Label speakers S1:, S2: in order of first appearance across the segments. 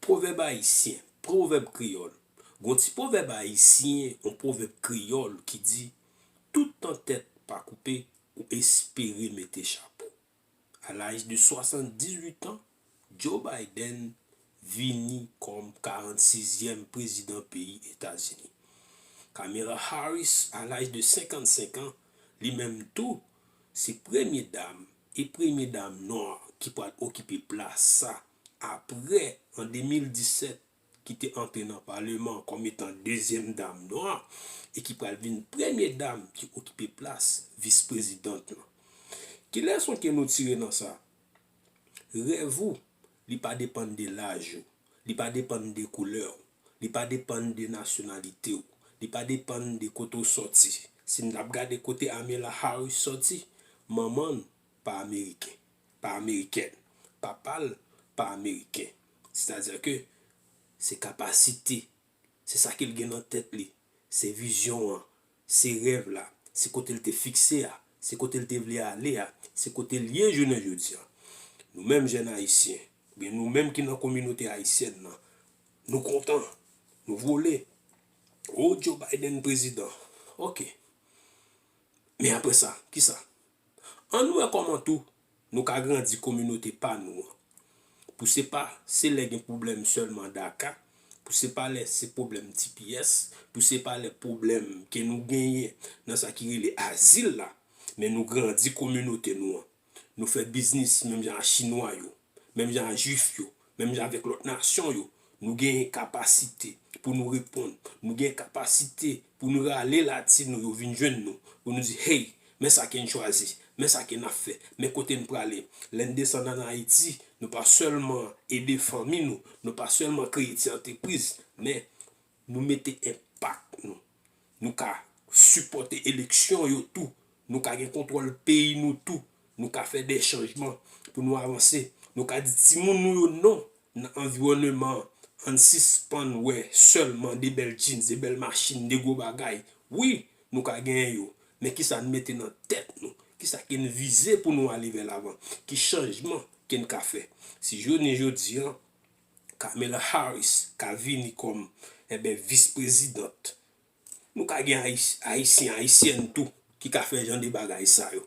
S1: Pwovèb ayisyen, pwovèb kreyòl. Gon ti pwovèb ayisyen, on pwovèb kreyòl ki di, Tout tan tèt pa koupe, ou espere mete chapo. A laj de 78 an, Joe Biden vini kòm 46 zièm prezidan peyi Etazini. Kamera Harris a laj de 55 an, li menm tou Se premye dam e premye dam nwa ki pral okipe plas sa apre an 2017 ki te antre nan paleman kòm etan dezyèm dam nwa e ki pral vin premye dam ki okipe plas vis prezidant lan. Ki leson ke nou tire nan sa? Rèv ou li pa depann de laj ou. Li pa depann de koulè w. Li pa depann de nasyonalite w. Li pa depann de kote w sòti. Si n t ap gade kote Amela Harris sòti, manman l pa ameriken, pa amerikèn, papa l pa ameriken. Sètadi ke se kapasite Se sa ke l gen nan tèt li. Se vizyon an. Se rèv la. Se kote l te fikse a. Se kote l te vle ale a. Se kote l ye jounen jodi an. Nou menm jèn Ayisyen, oubyen nou menm ki nan kominote ayisyèn nan, nou kontan. Nou vole. O, Joe Biden prezidan. Ok. Men apre sa, kisa? Ann wè kòman tou Nou ka grandi kominote pa nou an. Pou se pa se lè gen pwoblèm sèlman daka, pou se pa lè se pwoblèm tps, pou se pa lè pwoblèm ke nou genyen nan sa ki rele azil la, men nou grandi kominote nou an. Nou fè biznis menm jan a chinwa yo, menm jan a jwif yo, Menm jan avèk lòt nasyon yo, nou genyen kapasite pou nou reponn. Nou gen kapasite pou nou rale Latino yo vin jwenn nou, pou nou di, Hey, men sa ke n chwazi, men sa ke n ap fè, men kote n prale. Lè n desann ann Ayiti, nou pa sèlman ede fanmi nou, nou pa sèlman kreye ti antrepriz, men Nou mete enpak nou. Nou ka sipòte eleksyon yo tou. Nou ka gen kontwòl peyi nou tou. Nou ka fè de chanjman pou nou avanse. Nou ka di timoun nou yo non nan anviwòneman an. Ann sispann wè sèlman de bèl jeans, de bèl machin, de gwo bagay. Wi, nou ka genyen yo. Men kisa n mete nan tèt nou? Kisa ke n vize pou nou ale vè lavan? Ki chanjman ke n ka fè? Si jounen jodi an, Kamala Harris ka vini kòm enben vis prezidant. Nou ka gen ayisyen ayisyèn tou ki ka fè jan de bagay sa yo.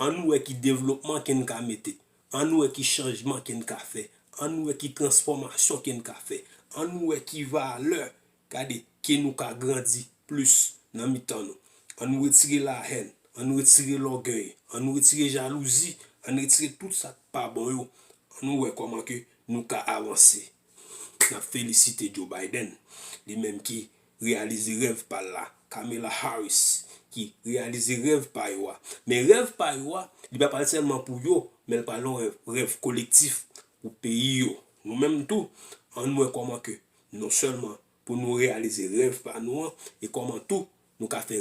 S1: An nou wè ki devlopman ken ka mete. An nou wè ki chanjman ken ka fè. An nou wè ki transfòmasyon ken ka fè. An nou wè ki valè Gade, ke nou ka grandi plis nan mitan nou. An nou retire lahèn, an nou retire lògèy, an nou retire jalouzi, an retire tout sa k pa bon yo, an nou wè kòman ke nou ka avanse. N ap felisite Joe Biden, li menm ki reyalize rèv pa l la, Kamala Harris, ki reyalize rèv pa yo a. Men rèv pa yo a, li pa pral sèlman pou yo, men l pral yon rèv, rèv kolektif pou peyi yo. Nou menm tou, an nou wè kòman ke Non sèlman pou nou reyalize rèv pa nou an e kòman tou nou ka fè.